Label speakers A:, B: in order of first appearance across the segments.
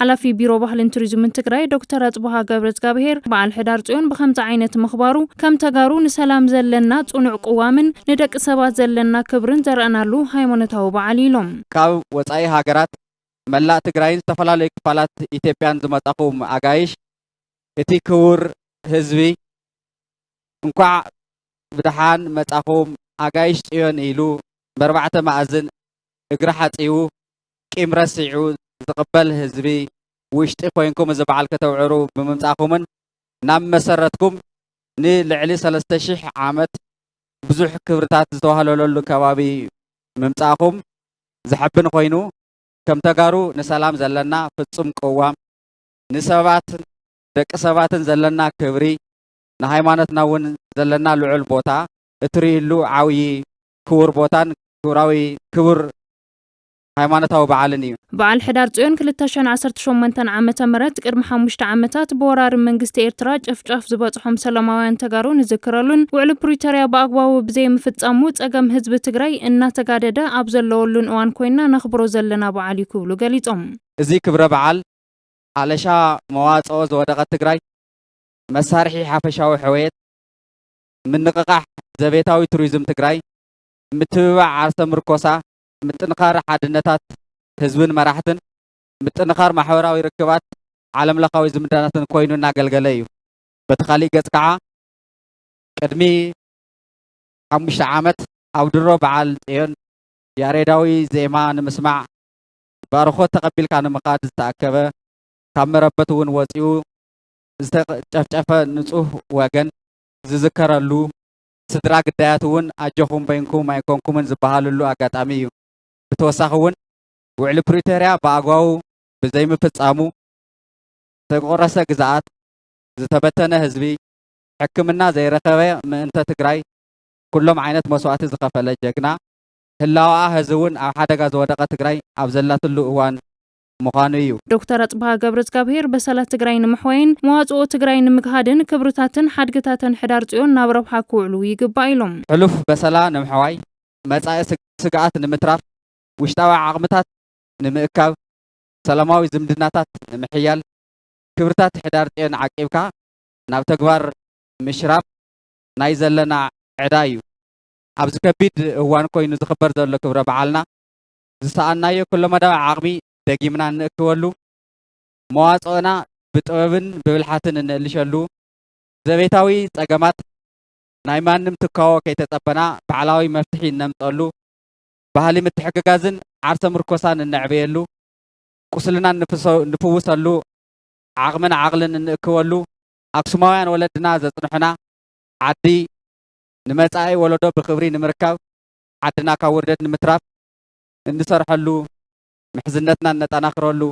A: ሓላፊ ቢሮ ባህልን ቱሪዝምን ትግራይ ዶክተር ኣፅብሃ ገብረእዝጋብሄር በዓል ሕዳር ፅዮን ብኸምዚ ዓይነት ምኽባሩ ከም ተጋሩ ንሰላም ዘለና ፅኑዕ ቅዋምን ንደቂ ሰባት ዘለና ክብርን ዘርእናሉ ሃይማኖታዊ በዓል እዩ ኢሎም። ካብ ወፃኢ
B: ሃገራት፣ መላእ ትግራይን ዝተፈላለዩ ክፋላት ኢትዮጵያን ዝመፃኹም ኣጋይሽ እቲ ክቡር ህዝቢ እንኳዕ ብደሓን መፃኹም ኣጋይሽ ፅዮን ኢሉ በርባዕተ መኣዝን እግሪ ሓፂቡ ቂም ረሲዑ ዝቕበል ህዝቢ ውሽጢ ኮይንኩም እዚ በዓል ከተብዕሩ ብምምጻእኹምን ናብ መሰረትኩም ንልዕሊ ሰለስተ ሽሕ ዓመት ብዙሕ ክብርታት ዝተዋህለለሉ ከባቢ ምምጻእኹም ዘሐብን ኮይኑ ከም ተጋሩ ንሰላም ዘለና ፍጹም ቅዋም ንሰባት ደቂ ሰባትን ዘለና ክብሪ ንሃይማኖትና እውን ዘለና ልዑል ቦታ እትርእይሉ ዓውዪ ክቡር ቦታን ክብራዊ ክቡር ሃይማኖታዊ በዓልን እዩ። በዓል ሕዳር ፅዮን ክልተ
A: ሽሕን ዓሰርተ ሸሞንተን ዓመተ ምህረት ቅድሚ ሓሙሽተ ዓመታት ብወራሪ መንግስቲ ኤርትራ ጨፍጫፍ ዝበፅሖም ሰላማውያን ተጋሩ ንዝክረሉን ውዕሊ ፕሪቶርያ ብኣግባቡ ብዘይምፍፃሙ ፀገም ህዝቢ ትግራይ እናተጋደደ ኣብ ዘለወሉን እዋን ኮይንና ነኽብሮ ዘለና በዓል እዩ ክብሉ ገሊፆም። እዚ ክብረ በዓል
B: ኣለሻ መዋፅኦ ዝወደቐት ትግራይ መሳርሒ ሓፈሻዊ ሕወየት፣ ምንቕቓሕ ዘቤታዊ ቱሪዝም ትግራይ፣ ምትብባዕ ዓርሰ ምርኮሳ፣ ምጥንኻር ሓድነታት ህዝብን መራሕትን፣ ምጥንኻር ማሕበራዊ ርክባት፣ ዓለም ለኻዊ ዝምድናታትን ኮይኑ እናገልገለ እዩ። በቲ ካሊእ ገፅ ከዓ ቅድሚ ሓሙሽተ ዓመት ኣብ ድሮ በዓል ፅዮን ያሬዳዊ ዜማ ንምስማዕ ባርኾት ተቐቢልካ ንምኻድ ዝተኣከበ ካብ መረበቱ እውን ወፂኡ ዝተጨፍጨፈ ንፁህ ወገን ዝዝከረሉ ስድራ ግዳያት እውን ኣጆኹም በይንኩም ኣይኮንኩምን ዝበሃልሉ ኣጋጣሚ እዩ። ብተወሳኺ እውን ውዕሊ ፕሪቶርያ ብኣግባቡ ብዘይምፍፃሙ ዝተቆረሰ ግዝኣት፣ ዝተበተነ ህዝቢ፣ ሕክምና ዘይረኸበ ምእንተ ትግራይ ኩሎም ዓይነት መስዋእቲ ዝኸፈለ ጀግና፣ ህላወኣ ሐዚ እውን ኣብ ሓደጋ ዝወደቐ ትግራይ ኣብ ዘላትሉ እዋን ምዃኑ እዩ። ዶክተር ኣፅብሃ
A: ገብረዝጋብሄር በሰላ ትግራይ ንምሕዋይን መዋፅኦ ትግራይ ንምግሃድን ክብርታትን ሓድግታተን ሕዳር ፅዮን ናብ ረብሓ ክውዕሉ ይግባእ ኢሎም። ሕሉፍ በሰላ
B: ንምሕዋይ፣ መፃኢ ስግኣት ንምትራፍ፣ ውሽጣዊ ዓቕምታት ንምእካብ፣ ሰላማዊ ዝምድናታት ንምሕያል፣ ክብርታት ሕዳር ፅዮን ዓቂብካ ናብ ተግባር ምሽራፍ ናይ ዘለና ዕዳ እዩ። ኣብዚ ከቢድ እዋን ኮይኑ ዝኽበር ዘሎ ክብረ በዓልና ዝሰኣንናዮ ኩለመዳያዊ ዓቕሚ ደጊምና እንእክበሉ፣ መዋጽኦና ብጥበብን ብብልሓትን እንእልሸሉ፣ ዘቤታዊ ጸገማት ናይ ማንም ትካዎ ከይተጸበና ባዕላዊ መፍትሒ እነምጸሉ፣ ባህሊ ምትሕግጋዝን ዓርሰ ምርኮሳን እነዕብየሉ፣ ቁስልና እንፍውሰሉ፣ ዓቕምን ዓቕልን እንእክበሉ፣ ኣክሱማውያን ወለድና ዘጽንሑና ዓዲ ንመጻኢ ወለዶ ብኽብሪ ንምርካብ ዓድና ካብ ውርደት ንምትራፍ እንሰርሐሉ፣ ምሕዝነትና እነጠናኽረሉ፣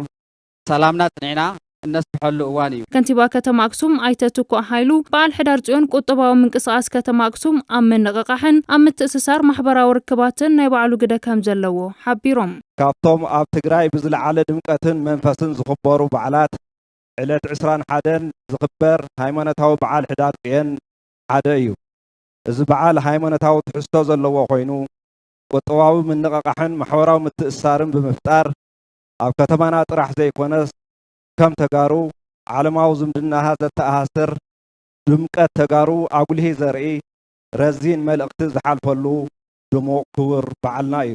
B: ሰላምና ኣፅኒዕና እነስፍሐሉ እዋን እዩ። ከንቲባ ከተማ ኣክሱም
A: ኣይተ ትኩእ ሃይሉ፣ በዓል ሕዳር ፅዮን ቁጠባዊ ምንቅስቓስ ከተማ ኣክሱም ኣብ ምንቕቓሕን ኣብ ምትእስሳር ማሕበራዊ ርክባትን ናይ ባዕሉ ግደ ከምዘለዎ ሓቢሮም። ካብቶም ኣብ
C: ትግራይ ብዝለዓለ ድምቀትን መንፈስን ዝኽበሩ በዓላት ዕለት ዕስራን ሓደን ዝኽበር ሃይማኖታዊ በዓል ሕዳር ፅዮን ሓደ እዩ። እዚ በዓል ሃይማኖታዊ ትሕዝቶ ዘለዎ ኮይኑ ቁጠባዊ ምንቕቓሕን ማሕበራዊ ምትእስሳርን ብምፍጣር ኣብ ከተማና ጥራሕ ዘይኮነስ ከም ተጋሩ ዓለማዊ ዝምድናሃ ዘተኣሳስር ድምቀት ተጋሩ ኣጉሊሂ ዘርኢ ረዚን መልእኽቲ ዝሓልፈሉ ድሙቕ ክቡር በዓልና እዩ።